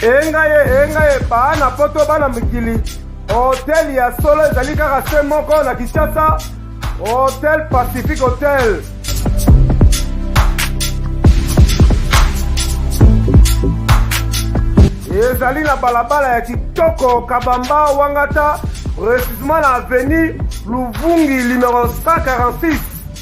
enga ye enga ye baa na poto bana mikili hotel ya solo ezali kaka se moko na kinshasa hotel pacifique hotel ezali na balabala ya kitoko kabamba wangata precisement na avenue luvungi numero 146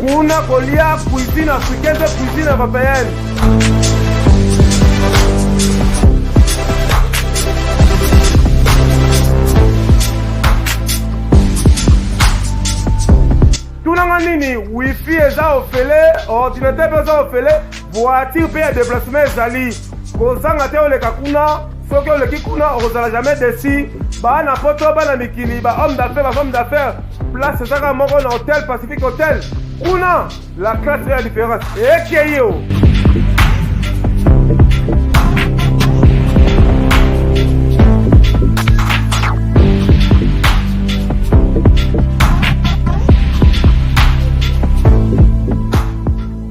kuna kolia cuisine africaine mpe cuisine européenne tunanga nini wifi eza ofele ordinateur mpe eza ofele voiture mpe ya deplacement ezali kozanga te oleka kuna soki oleki kuna okozala jamais desi bana poto bana mikili ba homme d'affaire ba femme d'affaire place ezaka moko na hotel pacifique hotel kuna la classe ya différence ekei o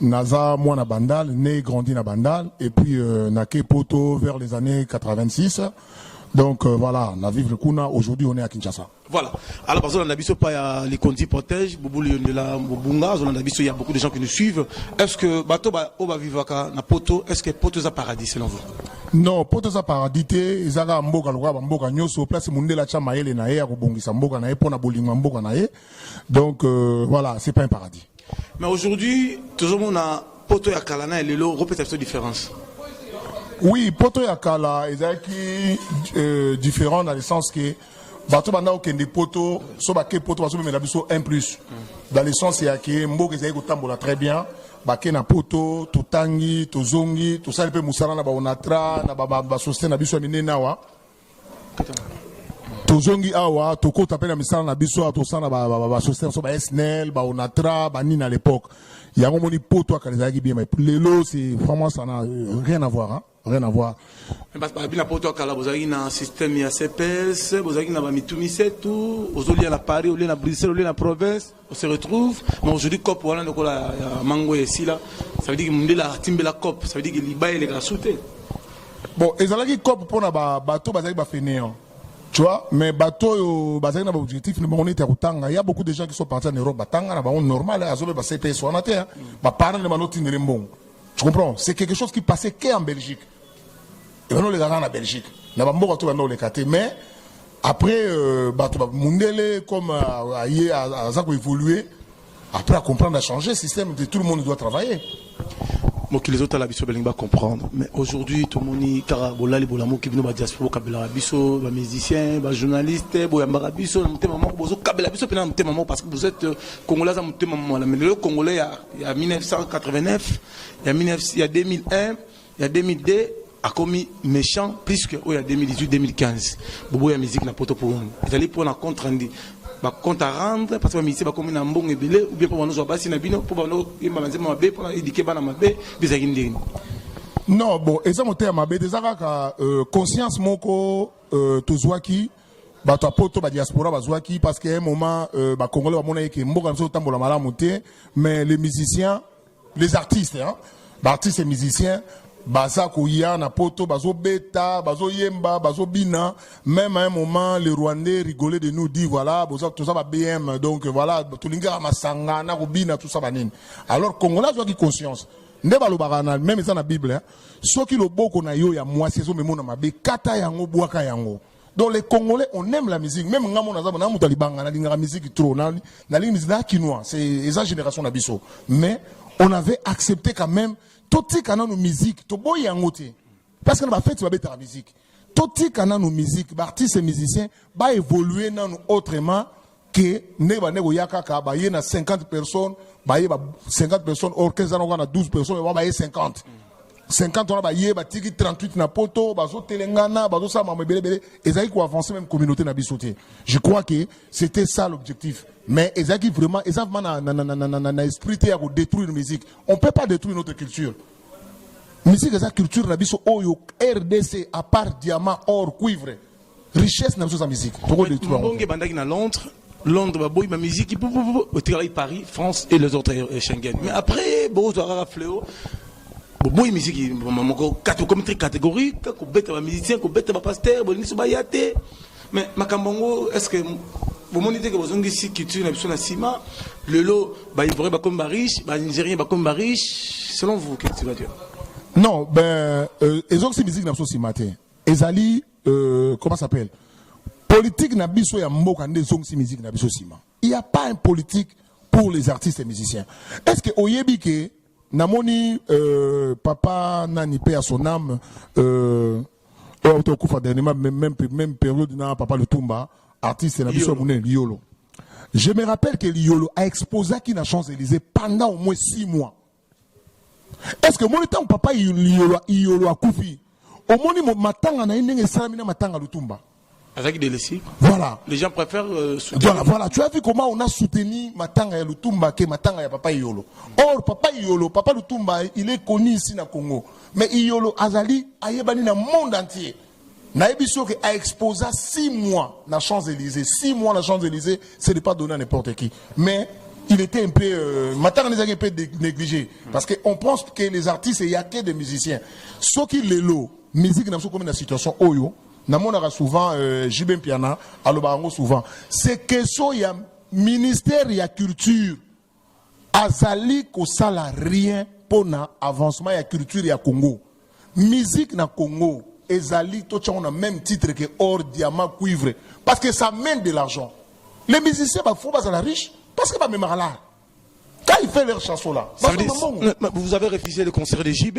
Naza mwana Bandal, né et grandi na Bandal, et puis euh, na ke Poto vers les années 86. Donc euh, voilà, na vivre kuna, aujourd'hui on est à Kinshasa. Voilà. Alors, parce que la biso pas ya les conduits protège, Boubouli de la Bobunga, on a biso, il y a beaucoup de gens qui nous suivent. Est-ce que bateau ba oba vivaka na Poto, est-ce que Poto za paradis selon vous? Non, Poto za paradis te, ezaka mboka lokola ba mboka nyoso, place mundela cha mayele na ye ya kobongisa mboka na ye pona bolingo ya mboka na ye. donc euh, voilà c'est pas un paradis mais aujourd'hui tozomona poto ya kala na ya lelo kopesa biso différence oui poto ya kala ezalaki euh, différent dans le sens que bato banda kokende poto so bake poto bazomemela biso un plus dans le sens ya ke mboka ezali kotambola très bien bake na poto totangi tozongi tosali mpe mosala na baonatra na basosiete na biso ya minene awa tozongi awa tokota mpe na misala na biso awa tosala na basociété biso ba snl baonatra banini à l'époque yango moni poto akana ezalaki bien mais lelo c'est vraiment ça na euh, rien à voir hein? rien à voir babi na poto akala bozalaki na système ya cps bozalaki na bamitu misetu ozolia na paris olie na bruxelles olie na province On se retrouve, mais aujourd'hui cop wana lokola ya mango ya esila, ça veut dire que mundela atimbela cop, ça veut dire que liba eleka na sute. Bon, ezalaki cop pona ba bato bazali ba fainéants. Tu vois, mais bato oyo bazali na ba objectif na bango neti ya kotanga, il y a beaucoup de gens qui sont partis en Europe batanga na bango normal, azobe ba CPS wana te, ba parents na bango tindele mbongo. Tu comprends? C'est quelque chose qui passait qu'en Belgique. ebanda oleka kaka na belgique na bamboka to ebanda oleka te mais après euh, bato ba mundele comme euh, aye aza koévolue après acomprendre achanger système de tout le monde doit travailler mokili ezotala biso balingi bacomprendre mais aujourd'hui tomoni kaka bolali bolamuki bino badiaspora bokabelaka biso bamusicien bajournaliste boyambaka biso na motema moko bozokabela biso mpena na motema moko parce que vous êtes euh, congolais aza motema mwana mais lelo congolais ya 1989 ya 2001 ya 2002 akomi méchant plus que oyo ya 2018 2015 bobo ya musique na poto pour ezali pona contre rendu ba compte à rendre parce que ba musicien bakomi na mbongo ebele ou bien mpo banozwa basi na bino mpo banoyemba na nzemba mabe mpo na édike bana mabe bizalaki ndenge non bon eza motema mabe te eza kaka euh, conscience moko euh, tozwaki bato ya poto badiaspora bazwaki parce que un moment euh, bacongolais bamonaki ke mboka na biso otambola malamu te mais les musiciens Les artistes hein, ba artistes et musiciens baza koya na poto bazobeta bazoyemba bazobina même à un moment le rwandais rigolait de nous dit voilà boza toza ba bm donc voilà tolingaka masanga na kobina tout ça banini alors congolais azwaki conscience nde balobaka na meme eza na bible hein. soki loboko na yo ya mwasi ezomemona mabe kata yango bwaka yango Donc les Congolais, on aime la musique. Même nga mon azaba na muta libanga na lingaka musique trop. Na na lingi musique na kinois, c'est esa génération na biso. Mais on avait accepté quand même to tika na no musique, to boy yango te. Parce que na ba fête ba beta la musique. To tika na no musique, ba artistes et musiciens ba évoluer na no autrement. que ndenge bande koya kaka baye na 50 personnes baye ba 50 personnes or 15 ans na 12 personnes ba baye 50 50 wana baye batiki 38 na poto bazotelengana bazosala mama ebelebele ezalaki koavance même communauté na biso te je crois que c'était ça l'objectif mais ezalaki vraiment eza vraiment na, na, na, na, na, na esprit te ya kodétruire musique on peut pas détruire notre culture musique eza culture na biso oyo rdc à part diamant or cuivre richesse na biso eza miziki tokodetruire yango mbonge ebandaki na londres londres baboyi bamiziki otikalaki paris france et les autres euh, schengen mais après bozwa kaka fleo boboyi miziki moko okomi très catégorique kobeta bamusicien kobeta bapaster bolingisi baya te mais makambo yango est ce que bomoni te ke bozongisi culture na biso na nsima lelo baivoirien bakomi bariche banigérien bakomi bariche selon vous qu'est-ce que tu vas dire non ben euh, ezongisi miziki na biso nsima te ezali euh, comment s'appelle politique na biso ya mboka nde ezongisi musique na biso sima il y a pas un politique pour les artistes et musiciens est-ce que oyebi ke namoni euh, papa nani pe à son âme euh, oyo auta okufa dernièrement même, même, même période na papa lutumba artiste na biso ya monene liyolo je me rappelle que liyolo a exposaki na champs élysées pendant au moins six mois est ce que omoni ntango papa iyolo akufi omoni matanga na ye ndenge esalami na matanga lutumba Avec des laissés. Voilà. Les gens préfèrent euh, soutenir. Voilà, voilà. Tu as vu comment on a soutenu Matanga et Lutumba que Matanga et Papa Iolo. Or, Papa Iolo, Papa Lutumba, il est connu ici na Congo. Mais Iolo Azali, Ayebani na monde entier. nayebi soki a exposa 6 mois na champs élysées 6 mois na champs élysées c'est de pas donner à n'importe qui mais il était un peu euh, matanga ezalaki un peu négligé parce que on pense que les artistes il y a que des musiciens soki lelo musique na biso komi na situation oyo namonaka souvent euh, jb mpiana alobaka yango souvent c'est question ya ministère ya culture azali kosala rien mpo na avancement ya culture ya congo musique na congo ezali totyango na même titre ke or diamant cuivre parce que ça mène de l'argent les musiciens bafo bazala riche parce que bamemaka lar quand il fait leur chanson là Ça veut dire- bazomambongo mais- mais vous avez refusé le concert de JB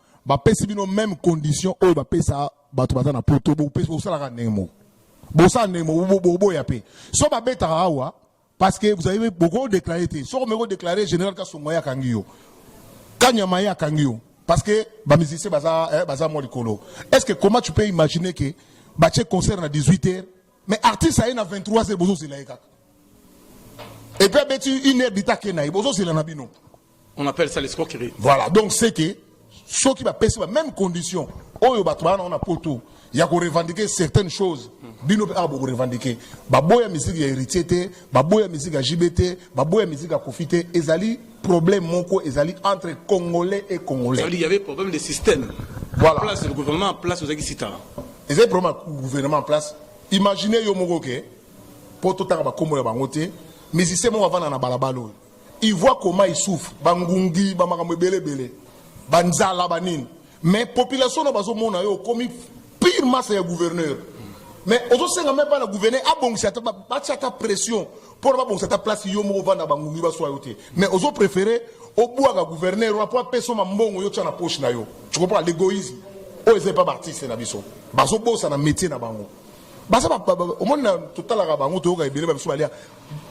bapesi bino meme condition oyo bapesa bato baza na poto bosalaka ndenge moko bosala ndenge moko boboya mpe so babetaka awa parce que vous avez boko déclaré te soko meko déclaré général kasongo ye akangi yo kanyama ye akangi yo parce que bamusicien baza, eh, baza mwa likolo est ce que comment tu peux imaginer que batie concert na 18 heures mais artiste aye na 23 heures bozozela ye kaka epuis abeti une heure dita ake na ye bozozela na bino On appelle ça l'escroquerie. Voilà, donc c'est que ceux qui va passer la même condition, oyo bato bana on a poto, ya ko revendiquer certaines choses. Bino pe abo revendiquer. Baboya musique ya héritier te, baboya musique ya JB te, baboya musique ya Kofi te, ezali problème moko ezali entre congolais et congolais. Il y avait problème de système. Voilà. Place le gouvernement en place aux Agisita. Ezali problème gouvernement en place. Imaginez yo moko ke poto tanga ba kombo ya bango te, musicien moko avanda na balabala oyo. Il voit comment il souffre, ba ngungi, ba makambo ebele ebele, ba nzala, ba nini. Mais population na bazo mona yo okomi pire masse ya gouverneur. Mais ozo senga même pas na gouverneur abongisa ata ba chata pression pour ba bongisa ata place yo moko vanda ba ngungi ba swa yo te. Mais ozo préférer obwaga gouverneur wa po peso ma mbongo yo tsa na poche na yo. Tu comprends l'égoïsme? Oh, ils pas artiste na biso. Bazo bosa na métier na bango. Baza ba omona totalaka bango toyoka ebele ba biso balia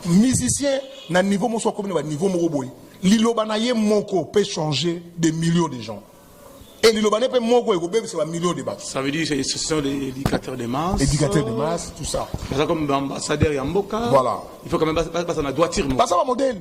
musicien na niveau mosusu akomi na ba niveau moko boye liloba na ye moko peut changer des millions de gens et liloba ne pe moko ekobebisa ba millions de bato ça veut dire c'est ce sont les éducateurs de masse éducateurs de masse tout ça baza comme ambassadeur ya mboka voilà il faut quand même basa na droiture baza ba modèle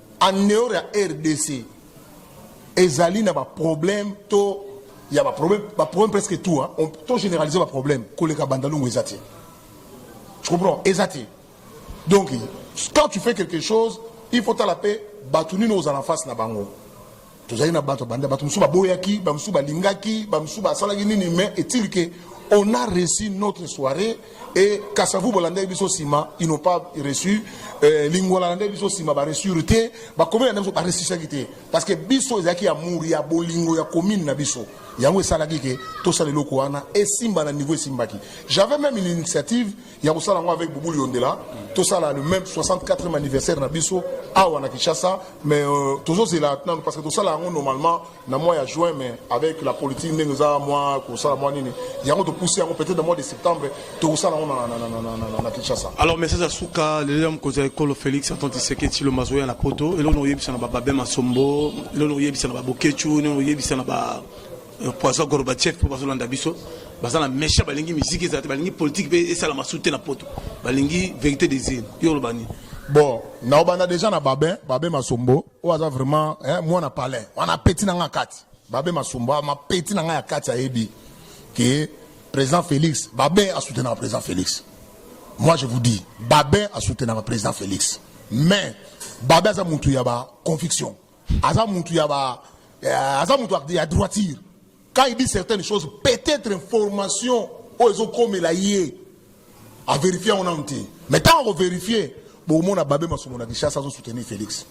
en dehors ya rdc ezali na baproblème to ya baproblème baproblème presque tout hein. on to généralise baproblème koleka bandalungu eza te tu comprends eza te donc quand tu fais quelque chose il faut tala mpe bato nini ozala face na bango tozali na bato banda bato mosusu baboyaki bamosusu balingaki bamosusu basalaki nini mais est-il que on a reçu notre soirée et kasavu bolandaki biso nsima ils n'ont pas reçu euh, lingwala landaki biso nsima baresure te bakomeli na biso baresisaki te parce que biso ezalaki amour ya bolingo ya commune na biso yango esalaki ke tosala eloko wana esimba na niveau esimbaki j'avais même une initiative ya kosala yango avec Boubou Yondela tosala le même 64e anniversaire na biso awa na Kinshasa mais euh, tozozela nanu parce que tosala yango normalement na mois ya juin mais avec la politique ndenge eza mwa kosala mwa nini yango topousse yango peut-être na mois de septembre tokosala yango na, na, na, na, na, na, na Kinshasa alors message ya suka lelo ya mokonzi ya ekolo Félix Antoine Tshisekedi Tshilombo azoya na poto eloko na oyebisa na bababe masombo eloko na oyebisa na babokechu eloko na oyebisa na ba poison gorbachev mpo bazolanda biso baza na mesha balingi miziki ezala te balingi politike mpe esala masu te na poto balingi verité des îles yo oloba nini bon naobanda deja na babe babe masombo oyo aza vraiment eh, mwana palin wana apeti na ngai ya kati babe masombo ah, mapeti na ngai ya kati ayebi ke président félix babe asoutenaka président félix moi je vous dis babe asoutenaka président félix mais babe aza mutu ya baconviction aza mutu ya ba eh, aza mutu ya droiture quand il dit certaines choses peut-être information oyo ezokomela ye averifie yango nanu te mais ntango akoverifie bokomona babe masumu na kinshasa azosoutenir félix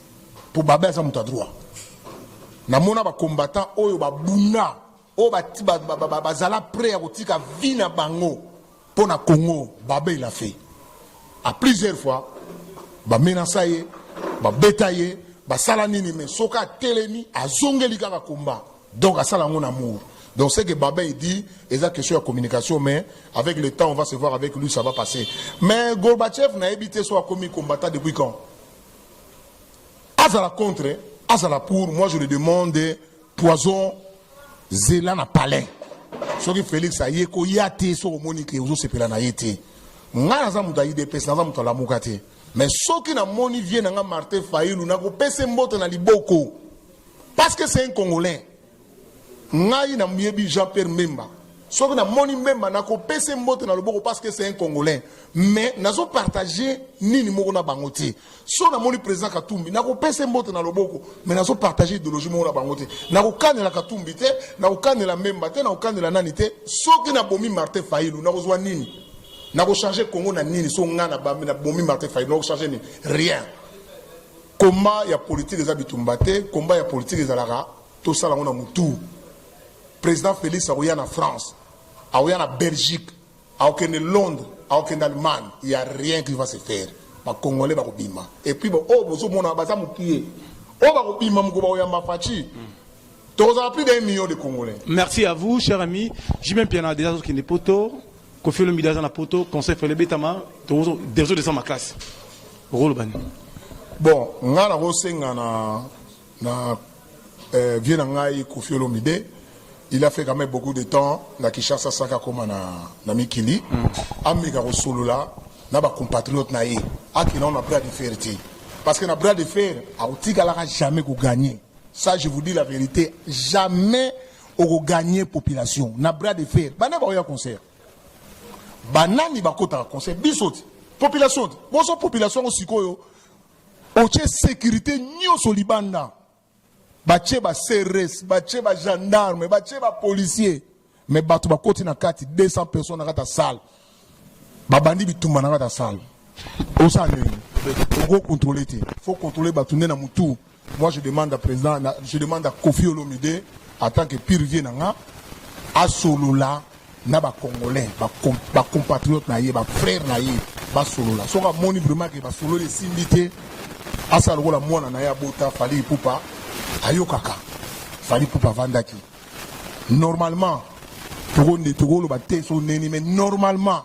mpo babe aza moto ya droit namona bacombattant oyo babunda oyo ba, ba, ba, ba, ba, bazala prêt ya kotika vie na bango mpo na Congo babe il a fait à plusieurs fois bamenasa ye babeta ye basala nini mais soki atelemi azongeli kaka komba donc asala yango na mour donc ce que babin il dit eza question ya communication mais avec le temps on va se voir avec lui ça va passer mais gorbachev nayebi te so akomi combattant depuis quand azala contre azala pour moi je le demande Poison zela na palais. Soki Felix aye ko ya te soki omoni ke ozo sepela na ye te. Nga naza moto ya IDPS naza moto alamuka te. Mais soki na moni vie na nga Martin Fayulu na ko pese mbote na liboko. Parce que c'est un Congolais. Ngai na myebi Jean-Pierre Memba. soki namoni mbemba nakopesa mbote na loboko parce que c'est un congolais mais nazo partage nini moko na bango te so namoni président katumbi nakopesa ye mbote na loboko me nazopartage idéologie moko na bango te nakokanela katumbi te nakokanela memba te nakokanela nani te soki nabomi martin failu nakozwa nini nakochange congo na nini so ngai nabomi martin failu nakochange nini rien komba ya politike eza bitumba te komba ya politike ezalaka tosala yango na motu président félix akoya na france akoya na belgique Akokende Londres, akokende Allemagne, il ya rien qui va se faire. Ba Congolais bakobima. Et puis ba oyo bozomona baza mukie. Oyo bakobima mokolo bakoyamba Fatshi. Mm. Tokozala plus d'un million de Congolais. Merci à vous, cher ami. J'ai même bien déjà qui n'est poto. Kofi Olomide aza na poto. Conseil Fele Betama. Tozo déjà descend ma classe. Rolo bani. Bon, nga na kosenga na Na eh, vieux na ngai Koffi Olomide il a fait quand même beaucoup de temps na Kinshasa sans akoma na, na mikili mm. ameka kosolola na bacompatriote na ye akenda ngo na bras de fer te parce que na bras de fer akotikalaka jamais koganye ça je vous dis la vérité jamais okoganye population na bras de fer bana baoya concert banani bakotaka concert biso te population te boso population yango sikoyo otie securite nyonso libanda batie ba crs batie ba gendarme batie ba policier me bato bakoti na kati 200 personnes na kati ya salle babandi bitumba na kati ya salle osala ndenge oko controle te faut controle bato nde na motu moi je demande à président je demande à kofi olomide en tant que pire vie na nga asolola na ba congolais ba, com, ba compatriote na ye ba frère na ye basolola soki amoni vraiment ke basololi esimbi te asala lokola mwana na ye abota fali ipupa ayokaka fali ipupa avandaki normalement tokoloba te so neni mais normalement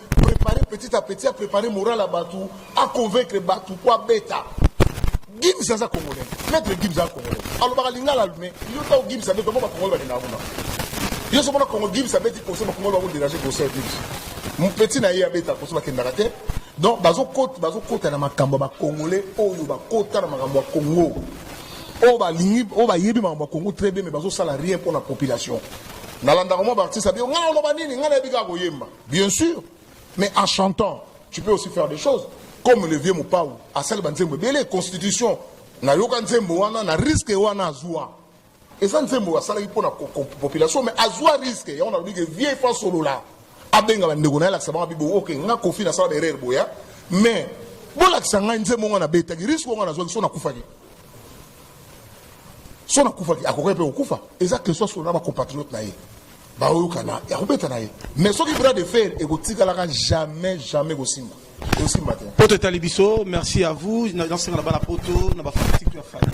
prepare petit à petit aprepare moral ya bato aconvaincre bato po abeta gims aza congolais maître gims aza congolais alobaka lingala lume yo ntango gims abeti bango bakongole balingaka kuna yo somona kongo gims abeti kose bakongole bango dérange kose ya gims mopeti na ye abeta kose bakendaka te donc bazokota na makambo ya bakongole oyo bakota na makambo ya kongo oyo balingi oyo bayebi makambo ya kongo très bien mais bazosala rien mpo na population nalandaka mwa baartiste abiyo ngai oloba nini ngai nayebi kaka koyemba Bien sûr, mais en chantant, tu peux aussi faire des choses. Comme le vieux Mopao, asali banzembo ebele constitution na yoka nzembo wana na risque wana azua. Eza nzembo asalaki mpo na population mais azua risque yango nalobi ke vieux fa solola abenga bandeko na ye alakisa bango bibo ok nga kofi nasala baerreur boya mais bolakisa ngai nzembo nga nabetaki risque wana nazwaki so nakufaki so nakufaki akokaki mpe kokufa eza question solola na bacompatriote na ye baoyokana ya kobeta na ye mais soki bras de fer ekotikalaka jamais jamais ekosimba ekosimba te poto etali biso merci à vous nasenga na bana poto na bafanatike ya fali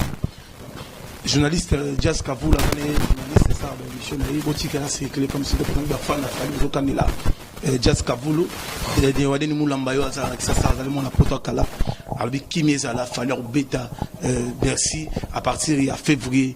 journaliste euh, jas kavula ane journaliste esala baémission na ye botika ya circule comme siko mpona bafan na fali bozokanela euh, jas kavulu euh, wadeni mulamba yo azala na kisasa azali mwana poto ya kala alobi kimi ezala fali akobeta bercy à partir ya février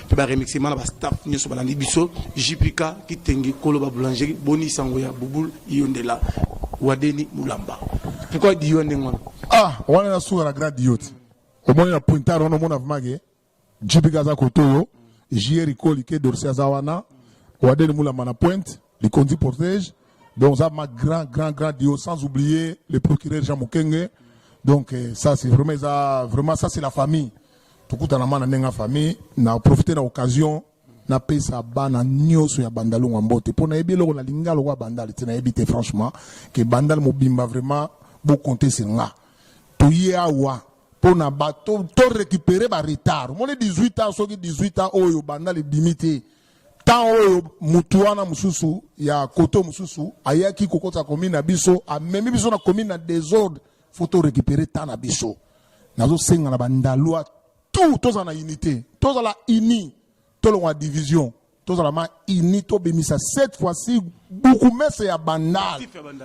mpe ba remixement na ba staff nyonso balandi biso JPK Kitengi Koloba Boulangerie Boni Sango ya Bubul Yondela Wadeni Mulamba pourquoi Dion ndenge wana ah wana na suka na grand Dion omoni na pointard wana omona vraiment ke JPK aza kotoyo JR Koli ke Dorsi aza wana Wadeni Mulamba na pointe likonzi protège donc ça ma grand grand grand dio sans oublier le procureur Jean Mukenge donc eh, ça c'est vraiment ça vraiment ça c'est la famille tokutana mana ndenge ya famille na profiter na occasion napesa bana nioso ya bandal onga mbote mpo nayebi eloko na linga lokola bandal te nayebi te franchement ke bandal mobimba vraiment bokonte se nga toye awa mpo na bato to récupérer ba retard omoni 18 ans soki 18 ans oyo bandal ebimi te Temps oyo mutu wana mususu ya koto mususu ayaki kokota commune na biso, amemi biso na commune na desordre, faut to récupérer temps na biso. Nazo senga na bandalua tout tozala na unité, tozala unis, tolongwa division, tozala ma unis, tobimisa cette fois-ci bukumese ya bandal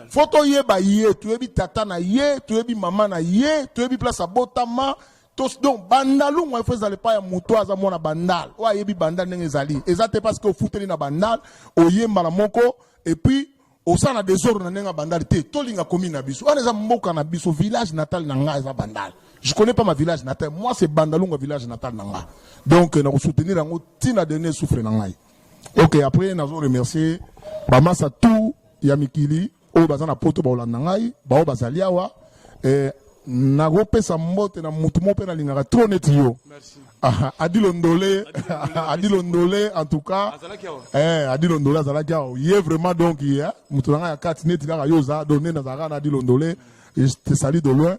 fo toyeba ye toyebi tata na ye toyebi mama na ye toyebi place abotama tous donc bandalu ngo ifo ezala epai ya moto aza mwana bandal oyo ayebi bandal ndenge ezali eza te parce que ofuteli na bandal oyemba na moko epuis osala na desordre na ndenge ya bandal te tolinga komi na biso wana eza mboka na biso village natal na ngai eza bandal je connais pas ma village natal moi c'est bandalunga village natal na ngai donc na kosoutenir yango ntina dernier souffre na ngai ok après nazo remercier bamasa tout ya mikili oyo baza na poto bakolanda ngai baoyo bazali awa eh, nakopesa mbote na motu moko mpe nalingaka tro neti yo ah, adilo ndole adilo ndole en tout cas eh, adilo ndole azalaki awa ye vraiment donc ye eh, motu na ngai ya kati neti kaka yo oza donc nde nazalaka na adilo ndole je te sali de loin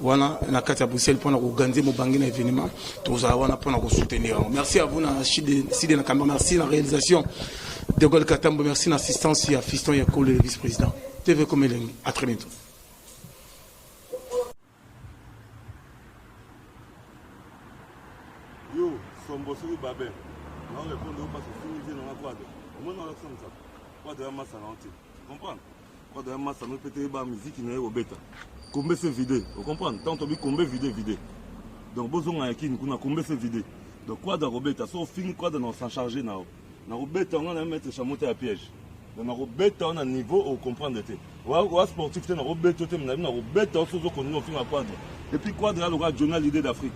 wana na kati ya bruxelles mpona koganze mobange na événement tozala wana mpona kosoutenir yango merci à vous na side na kamba merci na réalisation de gol katambo merci na assistance ya fiston ya kolo le vice président tv comme elengi à très bientôt yo sombo soki babe naorepondre yo mpasi ofingi te nanga kwade omoni olakisa mosapo kwade ya masana ote comprendre Oda ya masa no pete ba musique na yo beta. Kombe se vide. Vous comprenez? Tant obi kombe vide vide. Donc bozo nga yakini kuna kombe se vide. Donc quoi da robeta so fini quoi da na s'en charger na. Na robeta nga na mettre chamota ya piège. Donc na robeta na niveau au comprendre te. Wa wa sportif te na robeta te na na robeta so zo konno finga quoi. Et puis Quadra lokola Jonah l'idée d'Afrique.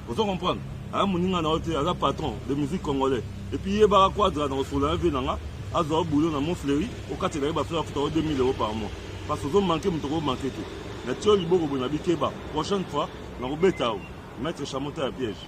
Ozo comprendre? Aya moninga na yo te, aza patron de musique congolais. Et puis yebaka Quadra na kosolo ya vie na nga, azwa boulot na Montfleury, okatela ye bafere akuta yo 2000 euros par mois. Parce ozo manquer moto ko manquer te. Na tio liboko boye na bikeba. Prochaine fois, na kobeta yo. Maître Chamota ya piège.